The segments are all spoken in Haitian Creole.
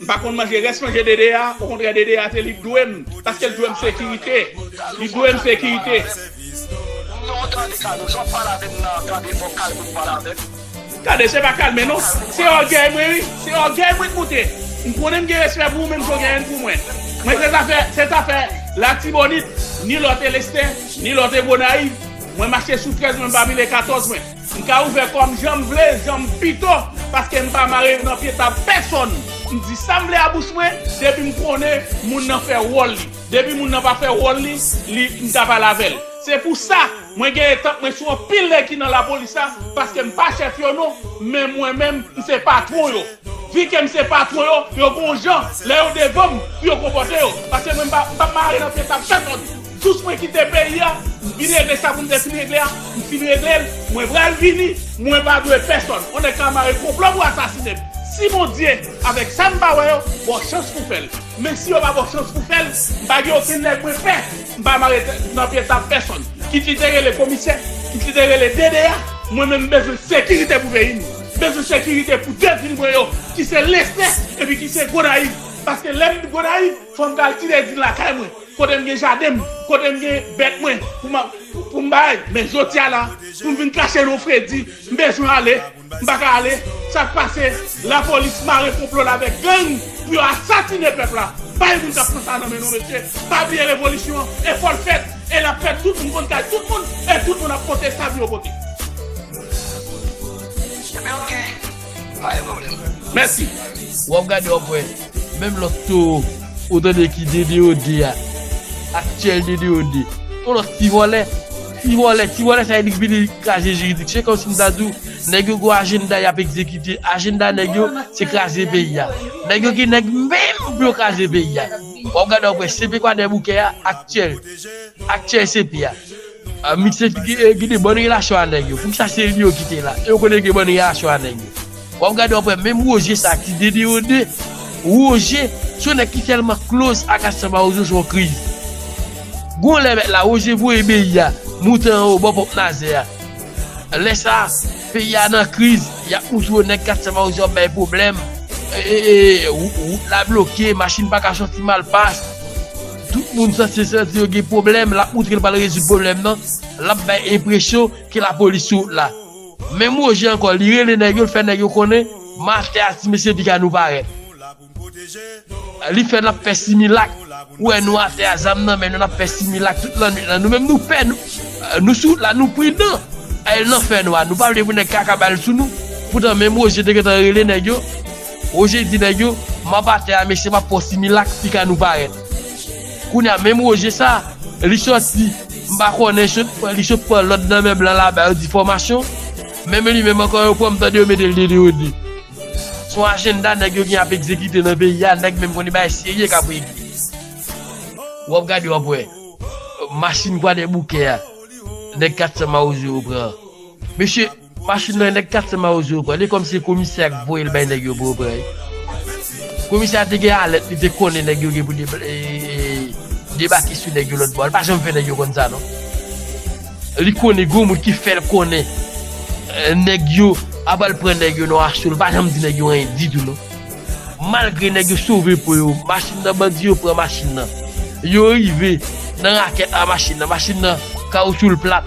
M pa konn manje rès manje Dede a okontrè Dede a te li k dwem paske l dwem sekirite li dwem sekirite. Non tande Carlos wap pale avem nan tande fok kalme pou pale avem. Tande se pa kalme non se ògèy mwen wi se ògèy mwen k moute m konnen m gen respè pou ou men m son genyen pou mwen mwen se zafè se zafè latibonit ni lòt elestè ni lòt e gonayiv mwen mache sou 13 mwen m pa pile 14 mwen. M ka ouvè kò m jan m vle, jan m pito, paske m pa mare yo nan pye tab pèsonn. M di sa m vle a bouch mwen, depi m konnen moun nan fè wòl li. Depi moun nan pa fè wòl li, li, m ka pale avè l. Se pou sa, mwen gen etanp mwen sou anpil nèg ki nan lapolis la, paske m pa chèf yo non, men mwen menm, m se patwon yo. Vi ke m se patwon yo, yo gon jan, lè yo devan m, pou yo konpòte yo. Paske mwen m pa, m pa mare nan pye tab pèsonn. Tout mwen kite peyi a, m vin regle sa pou m te fin regle a, m fin regle l, mwen pral vini, mwen pa dwe pèsòn, on nèg ka mare konplo pou asasine m, si Bondye avèk sa m pa wè yo ba w chans pou w fè l, men si yo pa ba w chans pou w fè l, m pa gen okenn nèg mwen pè, m pa mare tèt m nan pye tab pèsòn, kit li te rele komisè, kit li te rele DDA, mwen menm m bezwen sekirite pou peyi m, m bezwen sekirite pou 2 vil mwen yo ki se Lesne epi ki se Gonayiv, paske lè m Gonayiv. Fòm pral ti lèzin lakay mwen kotem gen jadenm kotem gen bèt mwen poum bay men jodia la poum vin krache non fredi mbezwen ale mpaka ale sak pase lapolis mare konplol avèk gang pou yo asasine pèp la bay moun kap pran sa nan men non mesye pa bliye revolisyon e fòl fèt e lap fèt tout moun konn kay tout moun e tout moun ap pote sa pou yo pote. Pa gen pwoblèm. Mèsi. Wè wap gade wap wè menm lòt towo ou tande ki DDOD a aktyèl DDOD yon lòt ti vòlè ti vòlè ti vòlè sa enik vini kraze jiridik se kòmsi m ta di w nèg yo gwo ajennda yap egzekite ajennda nèg yo se kraze peyi a nèg yo gen nèg menm pou yo kraze peyi a wap gade wap wè CP kwadèboukè a aktyèl aktyèl CP a. Misye ki gen bon relasyon a nèg yo poukisa se li yo ki te la e yo konnen gen bon relasyon a nèg yo wap gade wap wè menm Roger sa ki dedeyode Roger se yon nèg ki tèlman close ak Astor Mawozo se yon kriz gon lè mèt la Roger voye beyi a moute anwo bò ponp nazè a lè sa peyi a nan kriz yap moute yon nèg Astor Mawozo ap bay pwoblèm ee wout la bloke machin paka soti malpas. Tout moun sa se santi yo gen pwoblèm lap moutre l pral rezoud pwoblèm nan, lap bay enpresyon ke lapolis sou wout la. Menm Roger ankò li rele nèg yo l fè nèg yo konnen matè a ti mesye piga nou parèt. Li fè nap fè similak ou wè nou atè a zam nan men nou nap fè similak tout lannwit lan nou menm nou pè nou sou wout la nou pridan al nan fè nwa nou pa vle pou nèg kaka bal sou nou poutan menm Roger te gentan rele nèg yo Roger di nèg yo m anba tè a mesye m ap fè yon similak si ka nou parèt. Kounye a menm Roger sa li sòti m pa konnen li sot pran lòd nan men blan laba yo di fòmasyon. Menm li menm ankò yo pran m tande yo mete l 2 de yo 2. Se yon ajennda nèg yo gen ap egzekite nan peyi a nèg menm konnen bagay serye k ap regle. W ap gade w ap wè machin kwadèboukè a nèg 400 mawozo yo pran an. Mesye! Machin nan nèg 400 mawozo yo pran li kòm se komisè a k voyel bay nèg yo bro pran li komisè a te gen alèt li te konnen nèg yo gen pou debake sou nèg yo lòt bò li pa janm fè nèg yo konn sa non li konnen gon moun ki fèl konnen nèg yo ap al pran nèg yo nan asyò li pa janm di nèg yo anyen ditou non malgre nèg yo sove po yo machin nan bandi yo pran machin nan yo rive nan rakèt a machin nan machin nan kawoutchou l plat.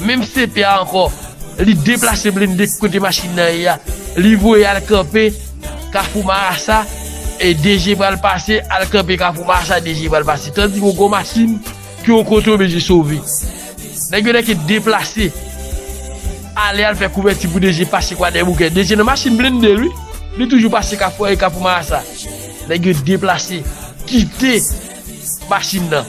Menm CP a ankò, li deplase blende kote machin nan ye a, li voye al kanpe kafou marasa, e DG pral pase al kanpe kafou marasa, DG pral pase. Tandis yon gwo machin ki yon kote oblije sove. Nèg yo nèke deplase, ale al fè kouvèti pou DG pase kwadèboukè. DG nan machin blende l wi, li toujou pase kafou an e kafou marasa. Nèg yo deplase, kite machin nan.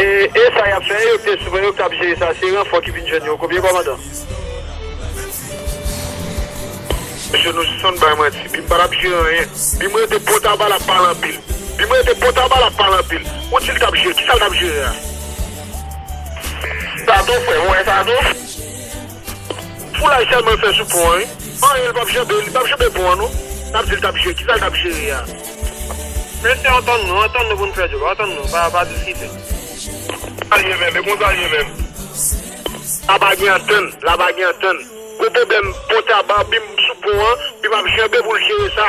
E e sa yap fè yo pye souple yo kap jere sa se ranfò ki vin jwenn yo konbyen kòmandan. Mesye nou sispann bay manti bim patap jere anyen bim rete potaba lap pale anpil bim rete potaba lap pale anpil ou dil tap jere kisal tap jere a. Sato frèm ou wè sato. Foulay selman l fè sou pon an wi. Anyen li pap janbe, li pap janbe pon an non. Lap di li tap jere, kisa li tap jere a? Mesye antann nou, antann nou pou nou fè djòl, antann nou, pa diskite. Sa l ye menm, e konsa l ye menm. La pa gen antann, la pa gen antann. Gwo pwoblèm, pon taba, bim sou pon an, bim ap janbe pou l jere sa.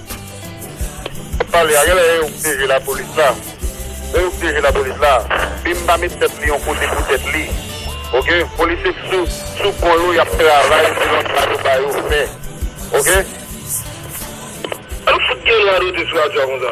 Pale a genlè e yo k pyeje lapolis la e yo k pyeje lapolis la bim pa met tèt li yon kote pou tèt li ok polis se sou sou kò yo yap travay selon sa yo ba yo fè ok An fout gen lwa dote sou radyo a konsa.